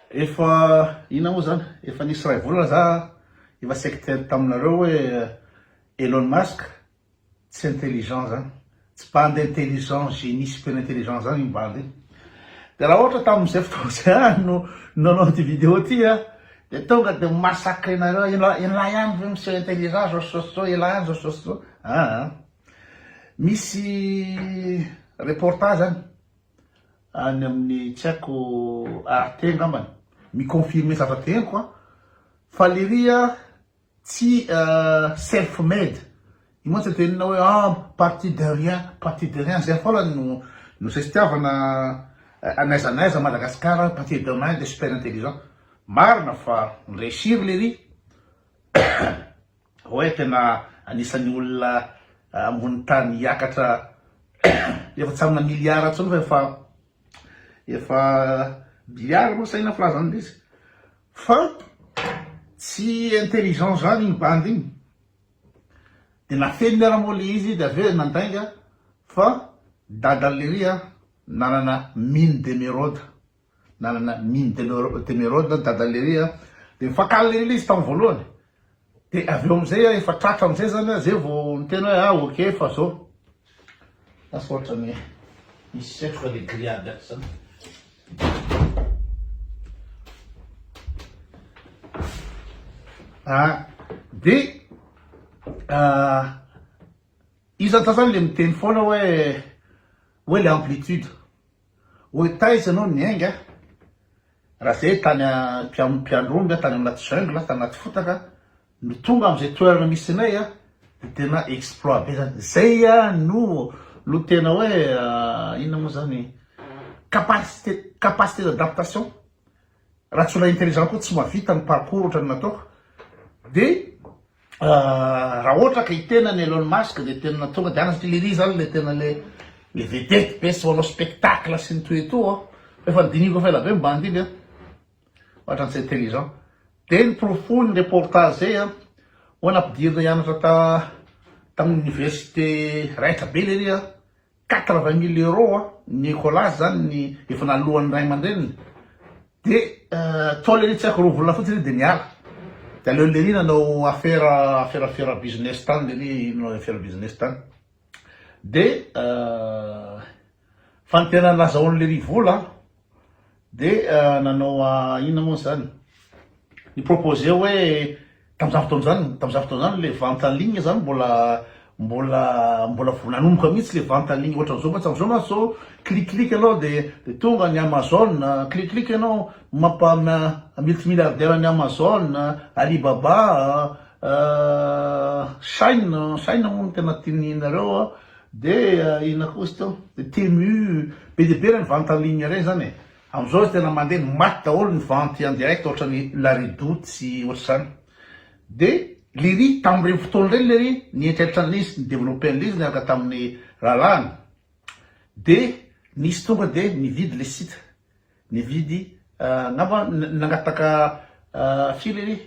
Efa inona moa zany? Efa nisy iray volana za efa sectaire taminareo hoe Elon Musk tsy intelligent zany, tsy bandy intelligent génie super intelligent zany iny bandy iny. De raha ohatra tamin'izay fotoana zay ihany no nanao ity vidéo ity a de tonga de mi-massacre nareo ela ela ihany ve miseho intelligent zao sy zao sy zao ela ihany zao sy zao sy zao aa misy reportage any any amin'ny tsy haiko Arte angambany. Mi-confirmer zavatra henoko an! Fa lery an tsy self made! Io mantsy atao inona hoe an! Parti de rien, parti de rien! Zay foana no no zay fitiavana n'aiza n'aiza Madagascar à partir de rien de super intelligent! Marina fa mi-reussir lery! Oay tena anisan'ny olona ambony tany hiakatra efa tsy amina milliard tsony fa efa efa billiard moa saina filazany lesy fa tsy intelligent zany iny bandy iny de nafeniny ara moa le izy de avy eo nandainga fa dadan'le ry a nanana mine d'emeraude nanana mine de l'emeraude dadan'i Lery a, dia nifankahala Lery ilay izy tamin'ny voalohany, dia avy eo amin'izay a efa tratra amin'izay zany a, zay vao niteny hoe ah ok fa zao, lasa ohatran'ny misy setroka le grillade ato zany. Ah, dia ah, izy antsasany le miteny foana hoe hoe le amplitude, Hoy taiza ianao niainga? Raha izay tany am-piandohan'ny aho, tany anaty jungle, tany anaty fotaka, no tonga amin'izay toerana misy anay aho, dia tena exploit be izany. Izay no no tena hoe inona moa izany, capacité capacité d'adaptation. Raha tsy olona intelligent koa tsy mahavita ny parcours ohatran'ny nataoko dia raha ohatra ka i tenany Elon Musk dia tena tonga dia any satria lery zany le tena le le vedette be sy manao spectacle sy ny toy et tout an fa efa nodinihiko efa ela be ny bandy iny an ohatra ny tsy intelligent dia ny porofo ny reportage zay an hoana ampidirina hianatra ta tamin'ny université raitra be lery an Quatre vingt mille euros a Nicolas zany ny efa naloan'ny ray aman-dreniny de tao lery tsy haiko roa volana fotsiny iry de niala de aleo lery nanao afera afera afera business tany lery inona afera business tany de fa ny tena nazahoan'i lery vola Dia nanao inona moa izany? Ni-proposer hoe tamin'izany fotoana izany, tamin'izany fotoana izany ilay vente en ligne izany mbola mbola mbola vao nanomboka mihitsy ilay vente en ligne ohatran'izao mantsy, amin'izao mantsy izao clic clic ianao dia dia tonga ny Amazon, clic clic ianao mampa multimilliardaire an'i Amazon, Alibaba, Shine, Shine moa no tena tian'ny nareo. Dia inona koa izy teo? Temu, be dia be ilay mivante en ligne ireny izany e. Amin'izao izy tena mandeha, maty daholo ny vente en direct ohatran'ny la redoute sy ohatr'izany. Dia lery tamin'ireny fotoana ireny lery ny eritreritra an'izy ni-developper an'izy niaraka tamin'ny rahalahiny. Dia nisy tonga dia nividy ilay site, nividy angamba nangataka firy lery?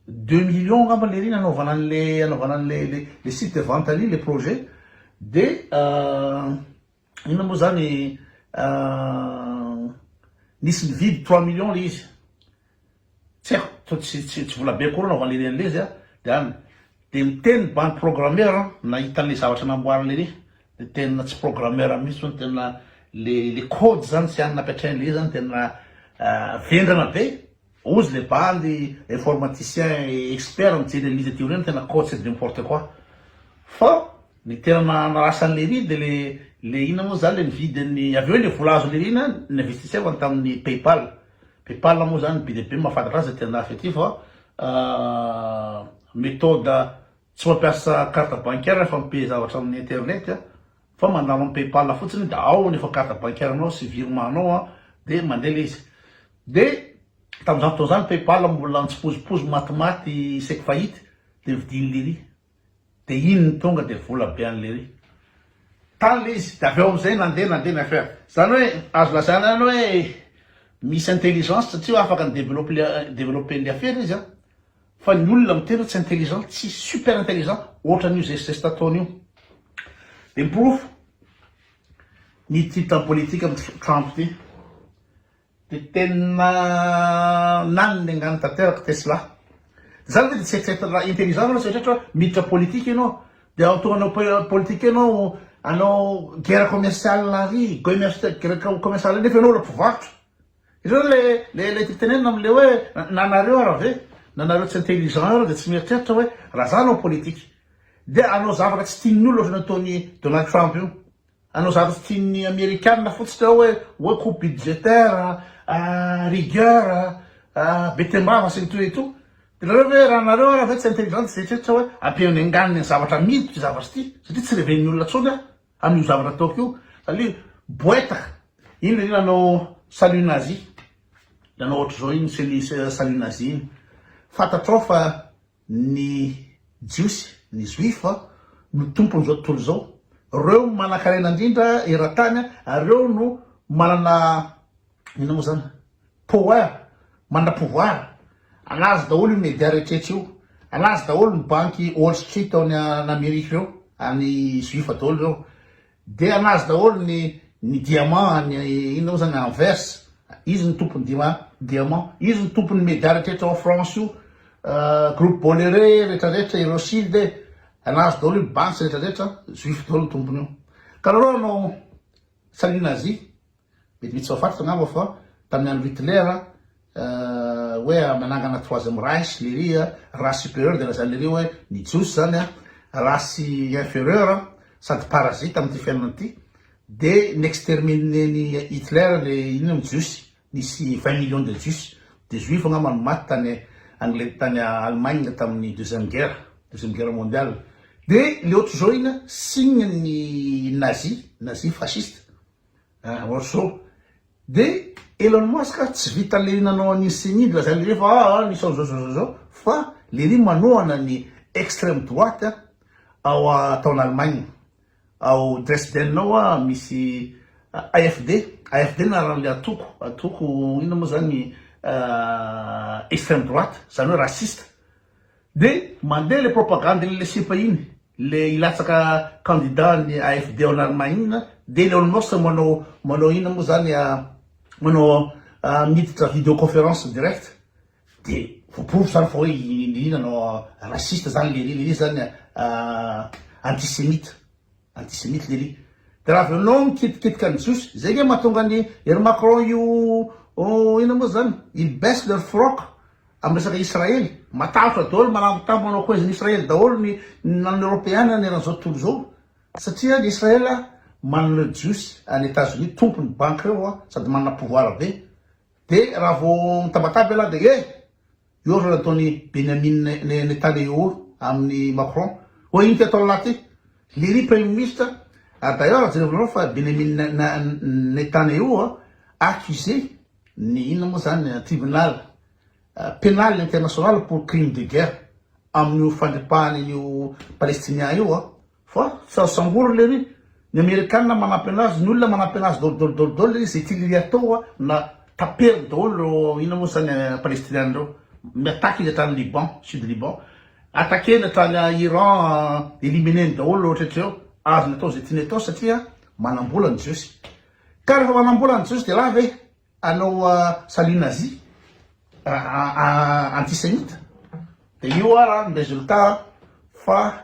Deux millions ngamba lery nanaovana anle anaovana anle le le site de vente an'iny le projet de inona moa zany nisy nividy trois millions le izy tsy haiko to tsy tsy tsy vola be akory anaovana lery anle izy a de any de miteny ny bandy programmeur an nahita anle zavatra namboary lery de tena tsy programmeur mihitsy zany tena le le code zany tsy any nampiatrainy le izy zany tena vendrana be Ozy le bandy informaticien expert mijery an'izy aty aoriana tena coach c'est du n'importe quoi. Fa ny tena nanarasa an'i Leiry dia le le inona moa zany le nividy an'i avy eo le vola azon'i Leiry iny an n'investissevany tamin'ny paypal. Paypal moa zany be dia be mahafantatra azy aty andafy aty fa methode tsy mampiasa carte bancaire fa mi-paye zavatra amin'ny internet. Fa mandalo am paypal fotsiny de ao ny efa carte bancaire nao sy virement nao an de mandeha le izy de tamzany fotoana zany paypal mbola nitsipozipozy matimaty isaiky fahity de vidiny lery de iny ny tonga de vola be any lery tany le izy de avy eo amzay nandeha nandeha ny affaire zany oe azo lazaina ihany oe misy intelligence satria afaka ni develope develope ny affaire izy an. Fa ny olona miteny hoe tsy intelligent, tsy super intelligent ohatran'io zestizesta ataony io. Dia ny porofo, ny titre politique am Trump ity dia tena naniny angano tanteraka Tesla. Dia zany ve dia tsy eritreretina raha intelligent ianao, tsy eritreritra hoe miditra politika ianao dia antohanao hoe politika ianao hanao guerre commerciale ary, guerre commerciale ary nefa ianao mbola mpivarotra. Ireo le le le titenenina amle hoe nanareo ara ve nanareo tsy intelligent eo de tsy mieritreritra hoe raha za anao politique de anao zavatra tsy tian'ny olona ohatran'ny ataon'i Donald Trump io anao zavatra tsy tian'ny amerikana fotsiny ao hoe hoe coupe budgétaire ah, rigueur ah, be tembava sy ny toy ito de nareo ve raha nareo ara ve tsy intelligent tsy eritreritra hoe ampihaino ny anganiny ny zavatra amidy ity zavatra ity satria tsy reven'ny olona tsony ah Amin'io zavatra ataoko io satria boeta iny ry nanao salut nazi nanao ohatr'izao iny ceni salut nazi iny fantatrao fa ny jiosy ny juif no tompon'izao tontolo izao reo manankarena indrindra eran-tany ary reo no manana Inona moa zany? Power? Manana pouvoir? Alazo daholo io media rehetrrehetra io. Alazo daholo ny banky Wall Street ao any Amerika ireo, any Juif daholo ireo. Dia alazo daholo ny ny diamant any inona moa zany Anvers. Izy ny tompon'ny dia diamant. Izy ny tompon'ny media rehetrrehetra ao France io. Groupe Bolloré rehetrarehetra i Rothschild. Alazo daholo io banks rehetrarehetra, Juif daholo ny tompon'io. Ka nareo anao salut nazi. Mety misy tsy mahafantatra angamba fa tamin'ny andron'i Hitler hoe nanangana troisième Reich lery, race supérieure dia lazainy lery hoe ny Jiosy izany race inférieure sady parasite amin'ity fiainana ity dia n'exterminer-n'i Hitler le inona ny Jiosy, nisy vingt millions de Jiosy, de Juifs angamba no maty tany Anglet- tany Allemagne tamin'ny deuxième guerre, deuxième guerre mondiale, dia le ohatrizao iny signe-n'ny Nazi, Nazi fasciste. Ah orso. De Elon Musk tsy vita lery nanao an iny ceni iny lazainy lery fa ah ah ny sao zao zao zao zao fa lery manohana ny extreme droite ao a tao an Allemagne ao Dresden ao a misy AFD AFD ny anaran le antoko antoko inona moa zany ah extreme droite zany hoe raciste. De mandeha le propagande le lesipa iny le hilatsaka candidat ny AFD ao Allemagne de le almost manao manao ina moa zany a manao a miditra video conference direct de voaporofo zany fa hoe i Lery nanao raciste zany Lery Lery zany a antisemite Antisemite lery. De raha avy eo anao mikitikitika ny jiosy, zay nge mahatonga an i ry Macron io inona moa zany? Ils baissent leur froc am resaka Israely. Matahotra daolo, malangotambo manao koezin'i Israely daolo ny na ny European na ny eran'izao tontolo izao. Satria ny Israel manana jiosy any Etats-Unis tompony banky reo sady manana pouvoir be. De raha vao mitabataba ialahy de eh! Eo ary nataon'i Benyamin Netanyahu amin'i Macron. Oa inty atao lahy ty. Lery Premier Ministre ary d'ailleurs jerevy nareo fa Benyamin Netanyahu a accusé ny inona moa zany tribunal penal international pour crime de guerre amin'io fandripahany an'io Palestinian io a. Fa tsy azo samborina le ry. Ny amerikana manampy anazy, ny olona manampy anazy dol dol dol dol izay tiany ry atao a na taperiny daholo reo inona moa zany palestiniana reo mi attaque izy hatrany liban sud liban attaqueny hatrany iran elimineny daholo reo rehetra reo azony atao izay tiany atao satria manambola ny jiosy ka rehefa manambola ny jiosy de raha ve anao salut nazi antisemita de io ara ny resultat fa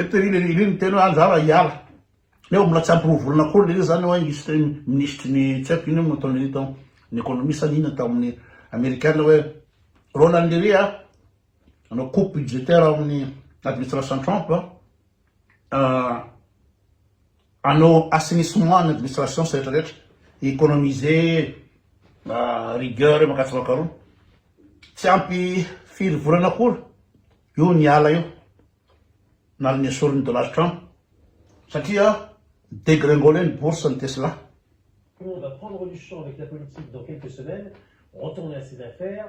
Eto iry iry iry miteny hoe anjara hiala. Nefa mbola tsy ampy roa volana akory lery zany hoe hisy teny minisitry ny tsy haiko inona moa nataony lery tao ny économie sa ny inona tao amin'ny amerikana hoe Ronald lery a hanao coupe budgétaire ao amin'ny administration Trump a. euh, hanao assainissement ny administration sy rehetra rehetra, économiser euh, rigueur eo makatsa makaroa. Tsy ampy firy volana akory io ny ala io nalo nesorin'ny Donald Trump satria dégringolé ny bourse ny Tesla. Tout le monde va prendre du champ avec la politique dans quelques semaines, retourner à ses affaires.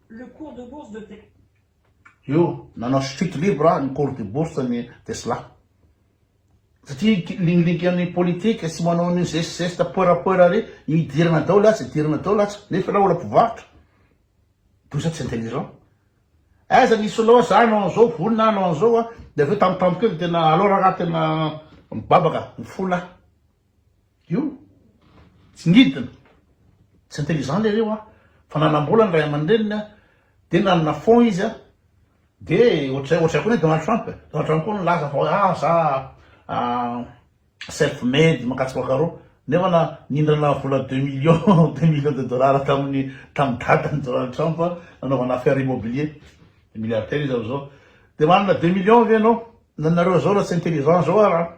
le cours de bourse de Tesla. Io, nanao chute libre ah, ny cours de bourse ny Tesla. Satria lingilingin an'ny politique sy manao ny zest zest poera poera re, idirana daholo atsy, idirana daholo atsy, nefa ilay olona mpivarotra. D'où ça tsy intelligent. Aiza ny solo za anao an'izao, vonona anao an'izao ah, dia avy eo tampotampoka eo dia tena alors raha tena mibabaka, mifola. Io tsy nidina, tsy intelligent lery io a! Fa nanam-bola ny ray aman-dreniny a! Dia nanana fonds izy a! Dia ohatr'izay, ohatr'izay koa ny Donald Trump e! Donald Trump koa nilaza fa hoe ah za self made mankatso bakaroa, nefa na nindrana vola deux millions, deux millions de dollars tamin'ny tamin'ny dadany Donald Trump nanaovana affaire immobilier, milliardaire izy amin'izao, dia manana deux millions ve ianao? Na nareo zao raha tsy intelligent zao ara!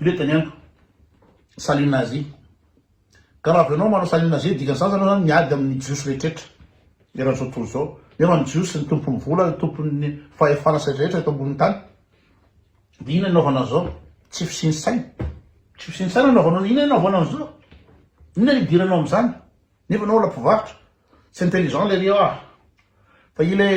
Ilay tany amiko. Salut nazi. Ka raha avy anao manao salut nazi dikany zany anao zany miady aminy jiosy rehetrretra eran'izao tontolo izao. Nefa ny jiosy ny tompony vola ny tompony fahefana sy rehetrretra eto ambony tany. Dia inona anaovana an'izao? Tsy fisiany saina. Tsy fisiany saina anaovana an'izao. Inona anaovana an'izao? Inona ny hidiranao amin'izany? Nefa anao olona mpivarotra. Tsy intelligent lery ah. Fa ilay